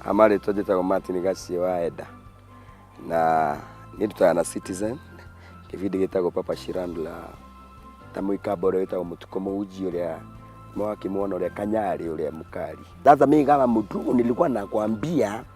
amarĩtwa njĩtagwo martin gacie wa enda na nĩ ndutaga na citizen kĩbindi gĩtagwo papa shirandula ta mũikamba ũrĩa wĩtagwo mũtuko mũhunji ũrĩa mawakĩmwona ũrĩa kanyarĩ ũrĩa mũkari sasa mi kama mtu nilikuwa nakwambia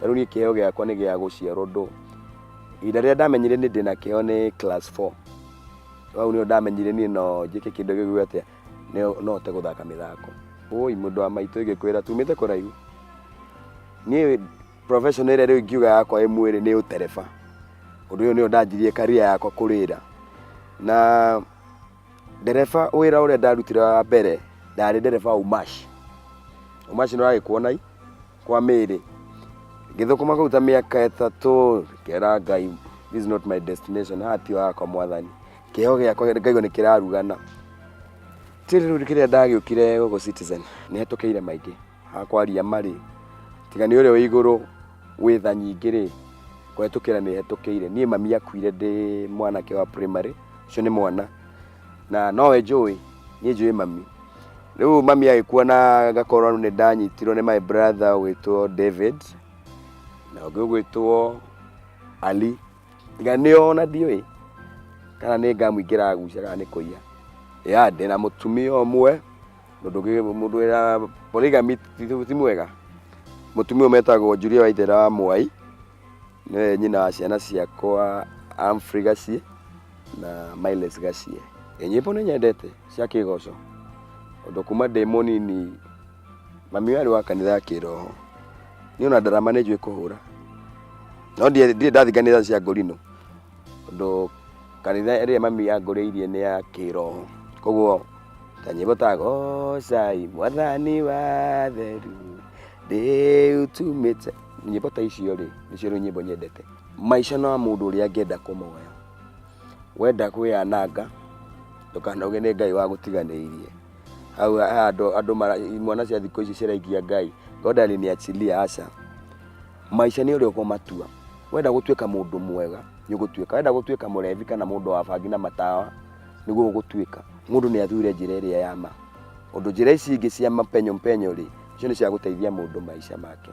na rĩu niĩ kĩheo gĩakwa nĩ gĩa gũciarwo ndũ ihinda rĩrĩa ndamenyire nĩ ndĩna kĩheo nĩ class 4 hau nĩyo ndamenyire niĩ no njĩke kĩndũ gĩgwĩ atĩa no- no hote gũthaka mĩthako ũi mũndũ wa maitũ ĩgĩkwĩra tumĩte kũraihu niĩ profession ĩrĩa rĩu ingiuga yakwa ĩ mwĩrĩ nĩ ũtereba ũndũ ũyũ nĩyo ndanjirie karia yakwa kũrĩra na ndereba wĩra ũrĩa ndarutire wa mbere ndarĩ ndereba wa umash umash nĩ ũragĩkuona kwa mĩĩrĩ ngĩthũkũma kũu ta mĩaka ĩtatũ ngera ngai this is not my destination haha ti hakwa mwathani kĩheo gĩakwa ngaigua nĩ kĩrarugana tĩrĩ rĩu kĩrĩa ndagĩũkire gũkũ citizen nĩ hetũkĩire maingĩ hakwaria marĩ tiga nĩ ũrĩa wĩ igũrũ wĩ tha nyingĩ rĩ kũhetũkĩra nĩ hetũkĩire niĩ mami akuire ndĩ mwanake wa primary ũcio nĩ mwana na nowe njũĩ niĩ njũĩ mami rĩu mami agĩkua na ngakorwo nĩ ndanyitirwo nĩ my brother ũgwĩtwo david na ũngĩ ũgwĩtwo ali tiga nĩ ona ndiũĩ kana nĩ ngamũingĩra agucia kana nĩ kũiya ya ndĩ na mũtumia ũmwe mũndũ ũngĩ- mũndũ wĩra polygamy ti ti mwega mũtumia ũyũ metagwo njuria waithera wa mwai Nĩwe nyina wa ciana ciakwa Humphrey Gaciĩ na Miles Gaciĩ. Ĩ, Nyĩmbo nĩ nyendete cia kĩgoco ũndũ kuma ndĩ mũnini mami ũyũ arĩ wa kanitha ya kĩroho. Niĩ ona ndarama nĩ njũĩ kũhũra no ndiĩ- ndirĩ ndathiĩ kanitha cia ngũrinũ tondũ kanitha ĩrĩa mami yangũrĩirie nĩ ya kĩroho koguo ta nyĩmbo ta gocai mwathani wa atheru ndĩutumĩte nyĩmbo ta icio rĩ nĩcio rĩu nyĩmbo nyendete maica no mũndũ ũrĩa angĩenda kũmoya wenda kwĩyananga ndũkanoge nĩ ngai wa gũtiganĩirie hau ha andũ andũ mara- imwana cia thikũ ici ciraikia ngai god aliniachilia aca maica nĩ ũrĩa ũkũmatua wenda gũtuĩka mũndũ mwega nĩ ũgũtuĩka wenda gũtuĩka mũrevi kana mũndũ wa bangi na matawa nĩguo ũgũtuĩka mũndũ nĩ athure njĩra ĩrĩa ya ma ũndũ njĩra ici ingĩ cia mapenyo mpenyo rĩ icio nĩ cia gũteithia mũndũ maica make